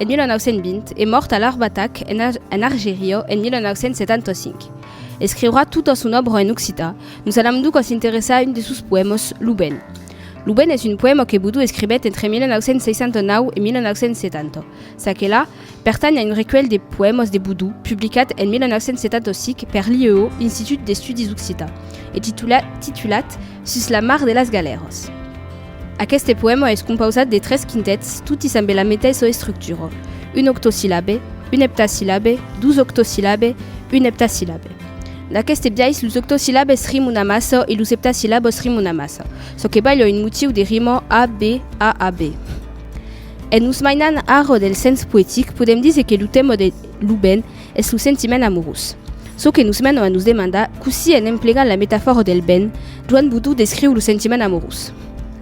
en 1920 e mòrt a Larbatak, en Argeriò, en 1975. Escriurà tota son òbra en occitan, nos alam donc a s'interessar a un de sos poèmas, Lo ben. Lo ben es un poèma que Boudou escrivèt entre 1969 e 1970. Ça que là, pertanh a un recuelh de poèmas de Boudou, publicat en 1975 per l'IEO, Institut d'Estudis Occitans, e titulat Sus la mar de las galèras. Aqueste poèma es compausat de tres quintets, toti sambe la meteissa estructura, un octosillabe, un eptasillabe, dos octosillabe, un eptasillabe. D'aqueste biais, los octosillabes rimon amassa e los eptasillabes rimon amassa, çò que balha un motiu de rima a-b, a-a-b. En nos mainan ara del sens poetic, podèm díser que lo tèma de Lo ben es lo sentiment amorós. Çò que nos mena a nos demandar cossí en emplegar la metafòra del ben, Joan Boudou descriu lo sentiment amorós.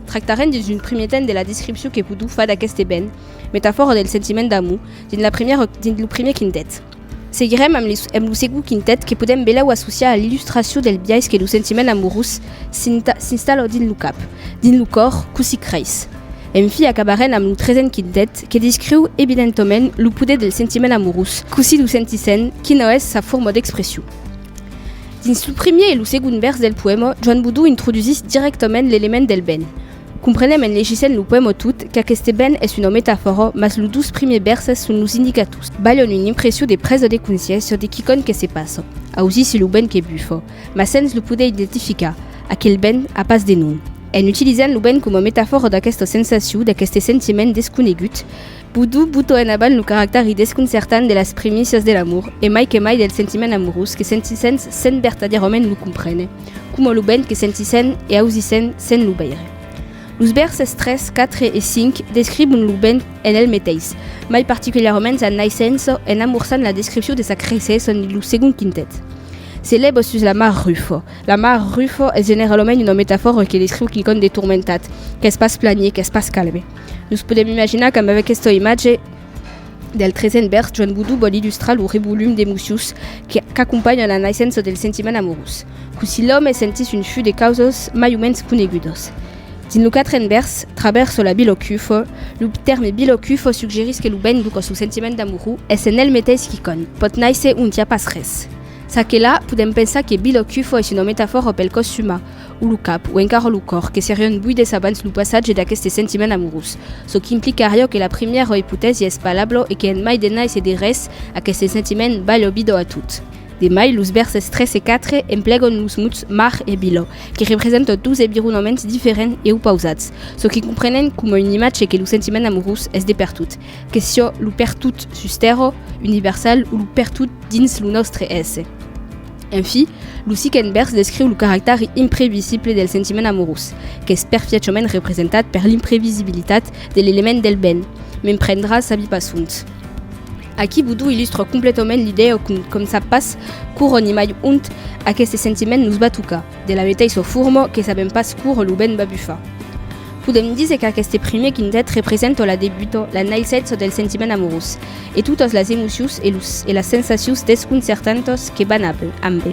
Tractarem dins un primier temps de la descripcion que Boudou fa d'aqueste ben, metafòra del sentiment d'amor, dins, la primièra, dins lo primier quintet. Seguirem amb, les, amb lo segon quintet que podem belau associar a l'illustracion del biais que lo sentiment amorós s'installa dins lo cap, dins lo còr, cossí creis. En fi acabarèn amb lo tresen quintet que discriu evidentament lo poder del sentiment amorós, cossí lo sentissèn, qui n'o es sa forma d'expression. Dins lo primier e lo segond vèrs del poèma, Joan Bodó introdusís dirèctament l'element del ben. Comprenèm en legissent lo poèma tot qu'aqueste ben es una metafòra mas los dos primiers vèrses son los indicators, balhon una impression de presa de consciéncia de quicòm que se passa, ausissi lo ben que bufa, Mas sens lo poder identificar, aquel ben a pas de nom. En utilizant lo ben coma metafòra d'aquesta sensacion, d'aqueste sentiment desconegut, Boudou buta en avant lo caractèri desconcertant de las primícias de l'amor e mai que mai del sentiment amorós que sentissèns sens vertadièrament lo comprene, coma lo ben que sentissèn e ausissèn sens lo veire. Los vèrses 3, 4 e 5 describon lo ben en el meteis, mai particulièrament sa naissença en amorçant la descripcion de sa creissaison dins lo segond quintet. Se lèva sus la mar Rufo. La mar Rufo es generalament una metafòra que descriu quicòm de tourmentat, qu'es pas planie, qu'es pas calme. Nos podèm imaginar qu'amb aquesta imatge del tresen vèrs, Joan Boudou vòl illustrar lo revolum d'emocius qu'acompanhan la naissença del sentiment amorós. Cossí l'òme sentís un fut de causas mai o mens conegudas. Dins lo quatren vèrs, Traverso la Bilocufo, lo tèrme Bilocufo suggerís que lo ben, lo còs, lo sentiment d'amorós, es en el meteis quicòm, pòt nàisser ont i a pas res. Ça que là, podèm pensar que Bill o Cufo es una metafòra pel còs umà, o lo cap, o encara lo còr, que serion buides abans lo passatge d'aqueste sentiment amorós, çò qu'implicaria que la primièra ipotèsi es palablo e que en mai de nais e de res, aqueste sentiment balh o bido a tot. De mai, los vèrses 3 e 4 emplegòn los mots mar e biloh, que representan dos evironaments diferents e opausats, çò que comprenèm coma una imatge que lo sentiment amorós es de pertot, Que sió lo pertot sus tèrra, universal, o lo pertot dins lo nòstre èsser. Enfi, lo siquent vèrs descriu lo caractèri imprevisible del sentiment amorós, qu'es perfièchament representat per l'imprevisibilitat de l'element del ben, me'n prendrà sabi pas ont. Aquí Boudou illustra completament l'idèa qu'un com sap pas quora ni mai ont aqueste sentiment nos va tocar. De la meteissa forma que sabèm pas quora lo vent va bufar, podèm díser qu'aqueste primièr quintet representa la debuta, la naissetza del sentiment amorós e totas las emocius e los e las sensacius desconcertantas que van ab ambe.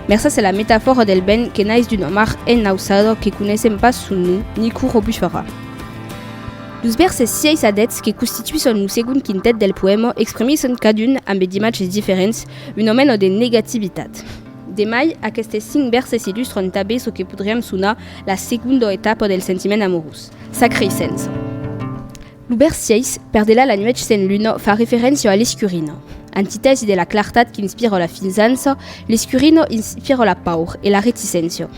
Mercés a la metafòra del vent que nais d'una mar ennausada que coneissèm pas son nom ni quora bufarà, los vèrses 6 a 10 que constituisson lo segond quintet del poèma exprimisson cadun, ambe d'imatges diferents, una mena de negativitat. De mai, aquestes cinc vèrses illustran tanben çò que podriam sonar la segonda etapa del sentiment amorós, sa creissença. Lo vèrs 6, Per delà la nuèch sen luna, fa referéncia a l'escurina. Antitèsi de la clartat qu'inspira la finzança, l'escurina inspira la paur e la reticéncia.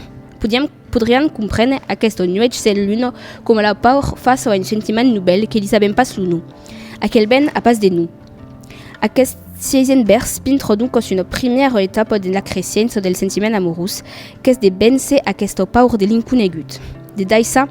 Podiam. Podrián comprene aqueste nuech se l'uno, coma la paur, fa so en sentiment nubèl que li sabèm pas lo nom. Aquel ben a pas de nom. Aqueste sièisen bèrs pintro doncos una primièra etapa dens la cresiença del sentiment amorós qu'es de véncer aquesta paur de l'inconegut. De daissà,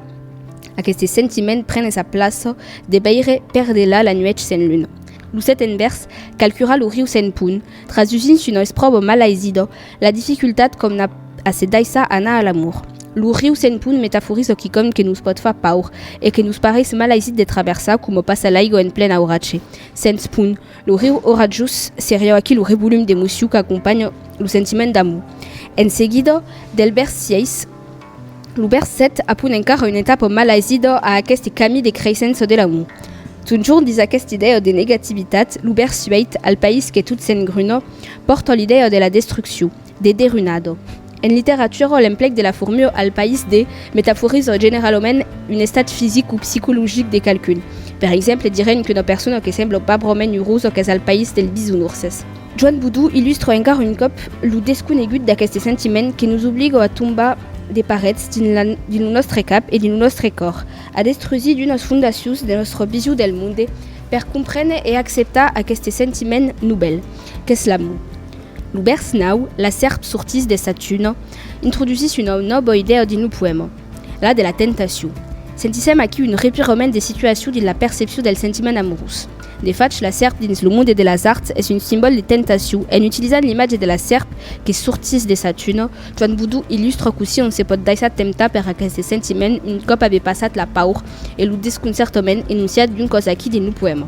aqueste sentiment prene sa plaça de veire per delà la nuech sen luna. Lo seten bèrs calcura lo riu sen pont, Trasusint su nois probo malaisidò la dificultat com n'a a se daissar anar a l'amor. Lo riu Sen Pont metaforizò quicòm que nos pòt far paur e que nos parés malaisit de traversar coma passa l'aigo en plen auratge. Sens pont, lo riu oratjós seriá aquí lo revolum d'emocion qu'acompanha lo sentiment d'amor. En seguidò, Delbert sièis. Lo bèrs 7 apun encara un etapo malaisidò a aqueste cami de creissent çò de l'amor. Tonjorn dins aqueste idèo de negativitat, lo bèrs 8, al país que tot s'engrunò, pòrta l'idèo de la destrucciu, de derunado. En literatura, l'emplec de la formio al país de metaforiza generalament un estat fisic o psicologic de qualqu'un. Per exemple, direm qu'una persona que sembla pas broment urosa qu'es al país dels bisounourses. Joan Boudou illustra encara un còp lo desconegut d'aqueste sentiment que nos obliga a tombar de parets dins lo nòstre cap e dins lo nòstre còr, a destrusir d'unas fondacions de nòstre vision del monde per comprene e acceptar aqueste sentiment novèl qu'es l'amor. Lo vèrs 9, La sèrp sortís de sa tuna, introdusís una nòva idèa dins lo poèma, la de la tentacion. Sentissèm aquí un revirament de situacion dins la percepcion del sentiment amorós. De fach, la sèrp dins lo monde de las arts es un simbòl de tentacion. En utilizant l'imatge de la sèrp que sortís de sa tuna, Joan Boudou illustra cossí on se pòt daissar temptar per aqueste sentiment un còp aver passat la paur e lo desconcertament enonciat d'un còs aquí dins lo poèma.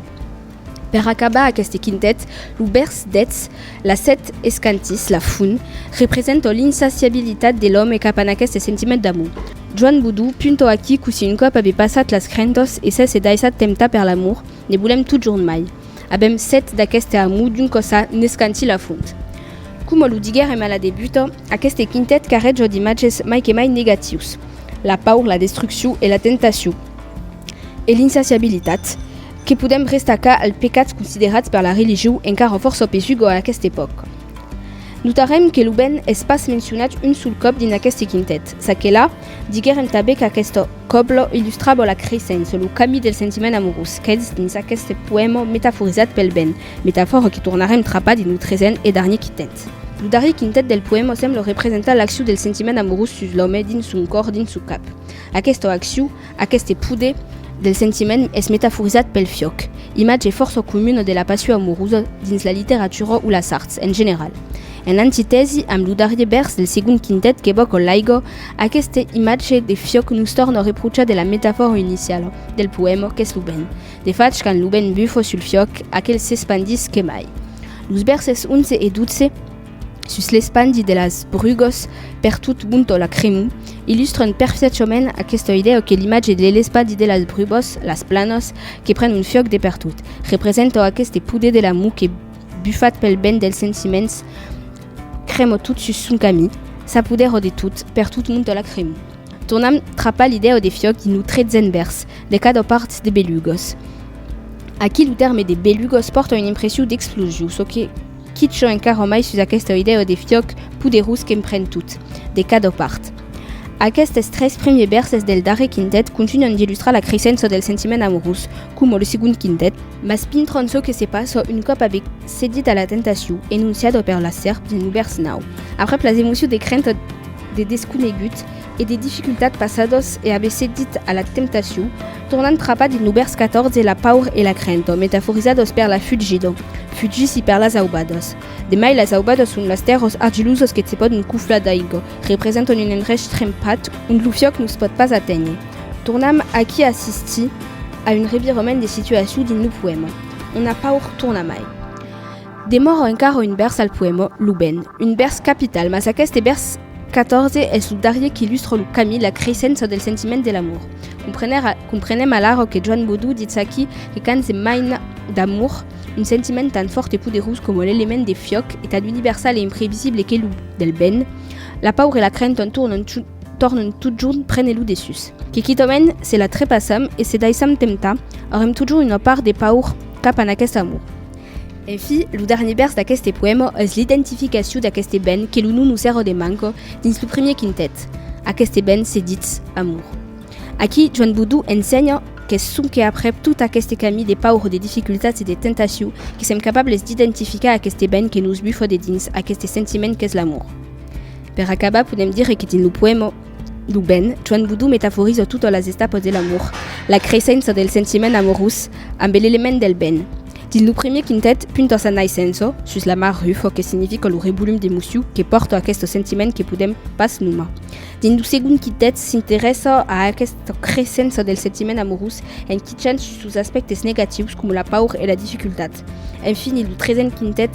Per acabar aqueste quintet, lo vèrs 10, Las sèt escantís, la fum, representò l'insaciabilitat de l'òme cap a n'aqueste sentiment d'amor. Joan Boudou puntò aquí cossí un còp aver passat las crentors e s'èsse daissat temptar per l'amor, Ne volèm totjorn mai. Avèm set d'aqueste amor d'un còsa n'escantil a fond. Coma lo diguèrem a la debuta, aqueste quintet carreja d'imatges mai que mai negatius. La paur, la destruccion e la tentacion. E l'insaciabilitat, que podèm restacar als pecats considerats per la religion encara fòrça pesuga a aquesta epòca. Notarem que lo ben es pas mencionat un sol còp dins aqueste quintet, çaquelà, Diguèrem tanben qu'aqueste còble illustrava la creissença, lo camí del sentiment amorós, qu'es dins aqueste poèma metaforizat pel vent, metafòra que tornarem trapar dins lo tresent e darnier quintet. Lo darrier quintet del poèma sembla representar l'accion del sentiment amorós sus l'òme, dins son còr, dins son cap. Aquesta accion, Aqueste poder del sentiment es metaforizat pel fiòc, imatge fòrça comuna de la passion amorosa dins la literatura o las arts en general. En antitèsi amb lo darrier vèrs del segond quintet que vòc Olaigo, aqueste imatge de fiòc nos torna reprochar de la metafòra iniciala del poèma qu'es lo vent. De fach, quand lo vent bufa sul fiòc, aquel s'espandís que mai. Los vèrses 11 e 12. sus l'espandi de las brugos per tot Bonto la Cremou, illustran perfiachament aquesta idèa que l'imatge de l'espandi de las brugos, las planos, que pren un fiòc de pertot, representa aqueste poder de l'amor que, bufat pel vent dels sentiments, crema tot sus son camin, s'apodèra de tot, per tot Bonto la Cremou. Tornam trapar l'idèa de fiòc dins lo tretzen vèrs, de cada part de belugos. Aquí lo tèrme de belugos pòrta una impression d'explosion, çò que, Quitcho encara mai sus aquesta idèo de fiòc poderós qu'empren tot, de cada part. Aquestes tres primiers vèrses del darrer quintet continuan d'illustrar la creissença del sentiment amorós, coma lo segond quintet, mas pintran çò que se passa un còp avèc cedit a la tentacion enonciada per la sèrp dins lo vèrs 9, aprèp las emocions de crenta de desconegut, e de dificultat passados e a bessé dit a la temptacion, tornant trapa dins lo bèrs 14 la paur e la crento metaforizados per la fugir d'o fugissy per las aubados. De mai las aubados son las tèrros argilusos que se pòdon cuflar d'aigo, representan un endrech trempat ont lo fiòc nos pòt pas aténher. Tornam aquí assistir a un revirement de situacion dins lo poèma. On a paur tornamai. Demòra encara un vèrs al poèma Lo ben, un vèrs capital, mas aqueste vèrs 14 es lo darrier qu'illustra lo camí, la creissença del sentiment de l'amor. Comprenem alara que Joan Bodou ditz aquí que quand se maina d'amor, un sentiment tan fòrt e poderós coma l'element de fiòc e tan universal e imprevisible que lo del ben, la paur e la crenta tornan totjorn prene lo dessús. Que quitament se la trepassam e se daissam temptar, aurem totjorn una part de paur cap en aqueste amor. En fi, lo darnier vèrs d'aqueste poèma es l'identificacion d'aqueste ben qu'es lo non Lucero de Manco dins lo premier quintet. Aqueste ben se ditz amor. Aquí, Joan Boudou ensenha qu'es sonque aprèp tot aqueste camí de paur, de dificultats e de tentacion que sèm capables d'identificar aqueste ben que nos bufa de dins, aqueste sentiment qu'es l'amor. Per acabar, podèm dire que dins lo poèma, Lo ben, Joan Boudou metaforiza totas las estapas de l'amor, la creissença del sentiment amorós ambe l'element del ben. Dins lo premier quintet, punta sa naissença, sus la mar Rufo que significa lo rebolum d'emocion que pòrta aqueste sentiment que podèm pas nomar. Dins lo segond quintet, s'interessa a aquesta creissença del sentiment amorós en quichant sus sos aspèctes negatius coma la paur e la dificultat. Enfini, lo tresent quintet,